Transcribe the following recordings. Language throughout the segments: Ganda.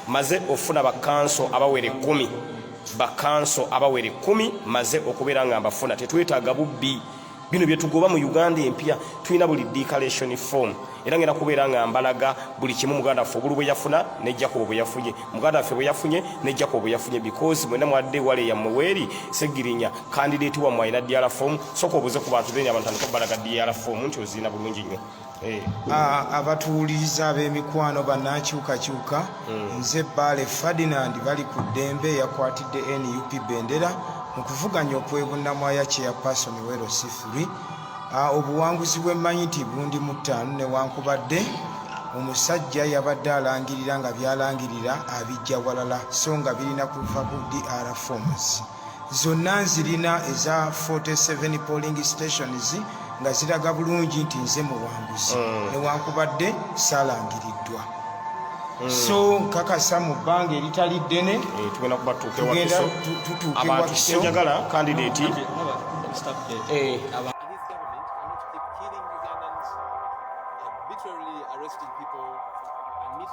maze ofuna bakanso abawera ekkumi bakanso abawera ekkumi maze okubeera nga mbafuna tetwetaaga bubbi bino byetugoba mu uganda empya tulina buli declaration form era ngenda kubeera nga mbalaga buli kimu muganda waffe obulu bweyafuna ne jakobo bweyafunye muganda waffe bweyafunye ne jakobo bweyafunye because mwena mwadde wale yammwe weeri segirinya candidate wa mwayina DR form soko obuze ku bantu benya abantu ko balaga DR form nti ozina bulungi nyo eh a abatuuliza abemikwano banakyuka kyuka hmm. nze bale Ferdinand bali ku dembe yakwatidde NUP bendera mu kuvuganya okwebunna mwaya kye ya person wero sifuri a obuwanguzi bwe manyiti bundi mutano ne wankubadde omusajja yabadde alangirira nga byalangirira abijja walala so nga birina kuva ku DR forms zonna nzirina eza 47 polling stations nga ziraga bulungi nti nze muwanguzi mm. newankubadde salangiriddwa mm. so nkakasa mu bbanga eritali ddene eh, tugenda kuba tutuukewakiso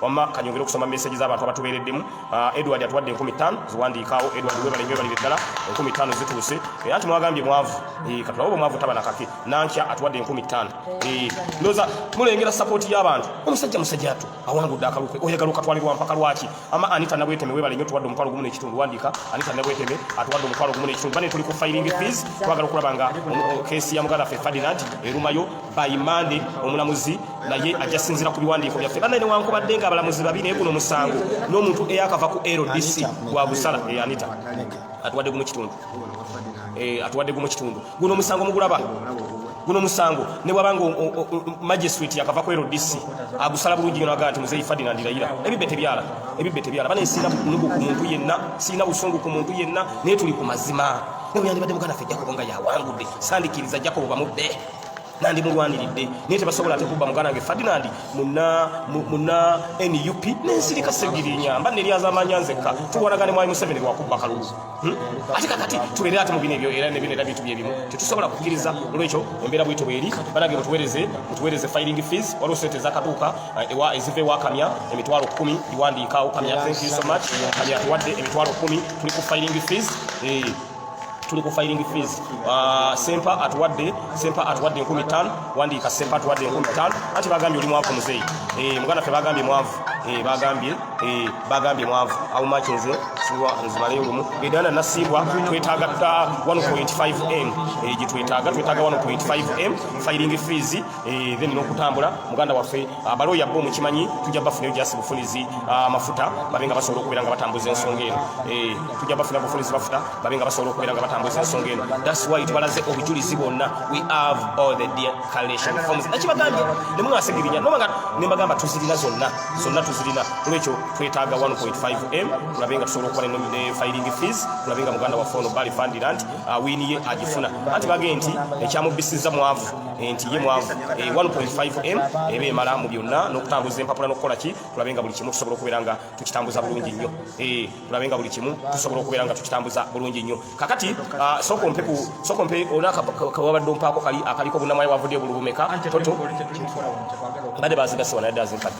wamma kanyongere okusoma message z'abantu abatubeereddemu uh, edward atuwadde enkumi ttaano ziwandiikaawo edward webale nyo ebalire ddala enkumi ttaano zituuse era nti mwagambye mwavu eh, katulawo bwe mwavu taba nakake nankya atuwadde enkumi ttaano eh, ndoza mulengera sapoti y'abantu omusajja musajja atu awangudde akalukwe oyagala okatwalirwa mpaka lwaki ama anita nabweteme webale nyo tuwadde omutwalo gumu n'ekitundu wandiika anita nabweteme atuwadde omutwalo gumu n'ekitundu bane tuli ku filing fees twagala okulaba nga keesi ya muganda ffe ferdinand erumayo by Monday omulamuzi naye ajja sinzira ku biwandiiko byaffe banaye newankubadde nga abalamuzi babi naye guno musango n'omuntu eyakava ku LDC gwa busala eh, Anita atuwadde gumu kitundu eh, atuwadde gumu kitundu guno omusango mugulaba guno musango ne bwaba nga magistrate yakava ku LDC agusala bulungi yona ganti muzeyi Ferdinand Ndayira ebibbe tebyala ebibbe tebyala bane sina nugu ku muntu yenna sina busungu ku muntu yenna ne tuli ku mazima ne bwandi badde mugana fe jakobo nga yawangudde sandikiriza jakobo bamudde nandi mulwaniridde naye tebasobola ate kubba muganda wange fadinand muna muna nup nensirika segirinya mba neryazamanya nzekka tuwanagane mwali museveni lwakubba kalulu hmm? ate kakati tubeere ate mubino ebyo era nebino era bintu byebimu tetusobola kukiriza olwekyo embeera bwito bweri banange mutuwereze mutuwereze filing fees waliwo sente ezakaduuka eh, ewa eziva ewakamya emitwalo kumi iwandiika okamya thank you so much kamya tuwadde emitwalo kumi tuli ku filing fees eh. tuli ku filing fees uh, sempa atuwadde sempa atuwadde enkumi ttaano wandiika sempa atuwadde enkumi ttaano anti bagambye oli mwavu muzeeyi eh, muganda ffe bagambye mwavu eh, bagambye eh, bagambye mwavu awo maki nze siwa nzimaleyo lumu edana nasiibwa twetaaga 1.5 m gyetwetaaga twetaaga 1.5 m filing fees Eh, then n'okutambula muganda waffe ah, balooya bo mukimanyi tujja bafunayo jasi bufunizi ah, mafuta babe nga basobola okubeera nga batambuza ensonga eno eh, tujja bafuna bufunizi mafuta babe nga basobola okubeera nga batambuza ensonga eno thats why tubalaze obujulizi bwonna we have all the declaration forms nakibagambye ne mwasigirinya noba nga ne mbagamba tuzirina zonna zonna tuzirina olwekyo twetaaga 1.5 m tulabe nga tusobola okuba ne filing fees tulabe nga muganda waffe ono bali fandirant ah, wiini ye agifuna anti bagee nti ekyamubisiza mwavu nti ye mwavu 1.5m eh, eba emala mu byonna n'okutambuza empapula n'okukola ki tulabe nga buli kimu tusobola okubeera nga tukitambuza bulungi nnyo eh, tulabe nga buli kimu tusobola okubeera nga tukitambuza bulungi nnyo kakati ah, sokompe olina kawabadde ompaako kali akaliko bunamwayi wavudde bulubumeka toto bade bazigasiwa naye dazinkadde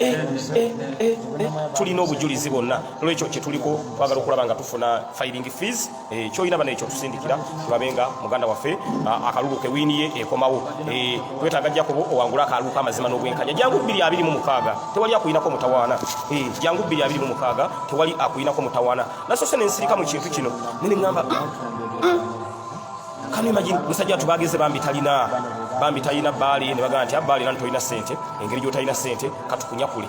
Eh, eh, eh, tulina obujulizi bwonna olwekyo kyetuliko twagala okulaba nga tufuna filing fees kyolina bana ekyo tusindikira tulabe nga muganda waffe ah, akalulu kewiniye ekomawo twetaaga jakobo owangula akalulu kamazima n'obwenkanya jangu bbiri abiri mu mukaaga tewali akuyinako mutawaana jangu bbiri abiri mu mukaaga tewali akuyinako mutawaana nasose nensirika mu kintu kino nene ŋamba kano imagine musajja watu bageze bambi talina bambi talina bali ne bagamba nti abali ah, tolina sente engeri gyotalina sente katukunyakule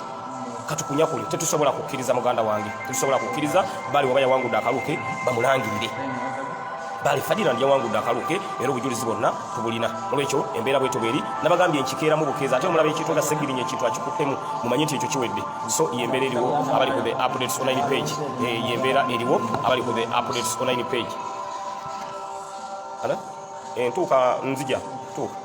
katukunyakule tetusobola kukkiriza muganda wange tetusobola kukkiriza bali waba yawangudde akaluke bamulangirire bali fadira ndi yawangudde akaluke era obujulizi bonna tubulina olwekyo embeera bweto bweri nabagambye enkikeera mu bukeeza ate omulaba ekintu nga segirinya ekintu akikuttemu mumanye nti ekyo kiwedde so yembeera eriwo abali ku the updates online page eh, yembeera eriwo abali ku the updates online page ala entuuka eh, nzija tuuka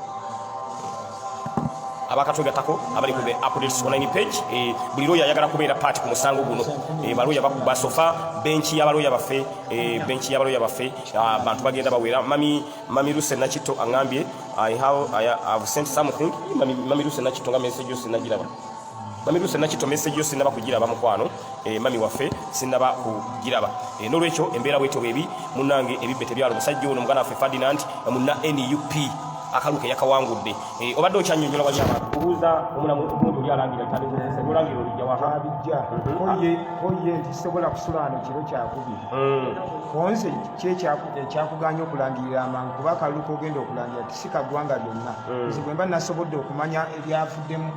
abakatwegatako abali ku the updates online page eh, buli looya ayagala kubeera paati ku musango guno eh, balooya basofa benki yabalooya baffe eh, benki yabalooya baffe ah, abantu bagenda bawera mami mami luse nakitto aŋambye i have, I have sent something mami, mami luse nakitto nga message yose nagiraba mami lusa nakito message yo sinaba kugiraba mukwano e, mami waffe sinaba kugiraba e, eh, nolwekyo embeera bwetyo bwebi munange ebibbe tebyalo musajja ono mugana waffe ferdinand eh, muna nup akaluke yakawangudde e, obadde okyanyonyola wali abantu kubuuza omulamu omuntu oli alangira taolangira olija wahabijja mhm. oye nti sobola kusulaano kiro kyakubi mm. onze kyekyakugaanya okulangirira amangu kuba akaluke ogenda okulangira tisika ggwanga lyonna mm. nze bwemba nasobodde okumanya ebyavuddemu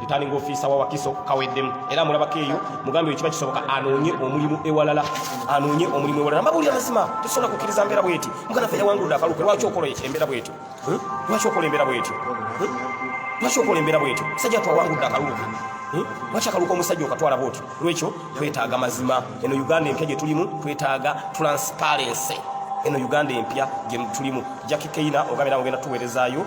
Returning officer wa Wakiso kaweddemu era mulabako eyo mugambe ekiba kisoboka anoonye omulimu ewalala anoonye omulimu ewalala mbabuulira mazima tesobola kukkiriza mbeera bweti mugana ffe yawangulula akalupe lwaki okola embeera bwetyo hmm? lwaki okola embeera bwetyo hmm? lwaki okola embeera bwetyo sajja twawangulula akalupe Hmm? lwaki akaluka omusajja okatwala bwotyo lwekyo twetaaga mazima eno uganda empya gyetulimu twetaaga transparency eno uganda empya gyetulimu jaki keina ogambira ogenda tuweerezaayo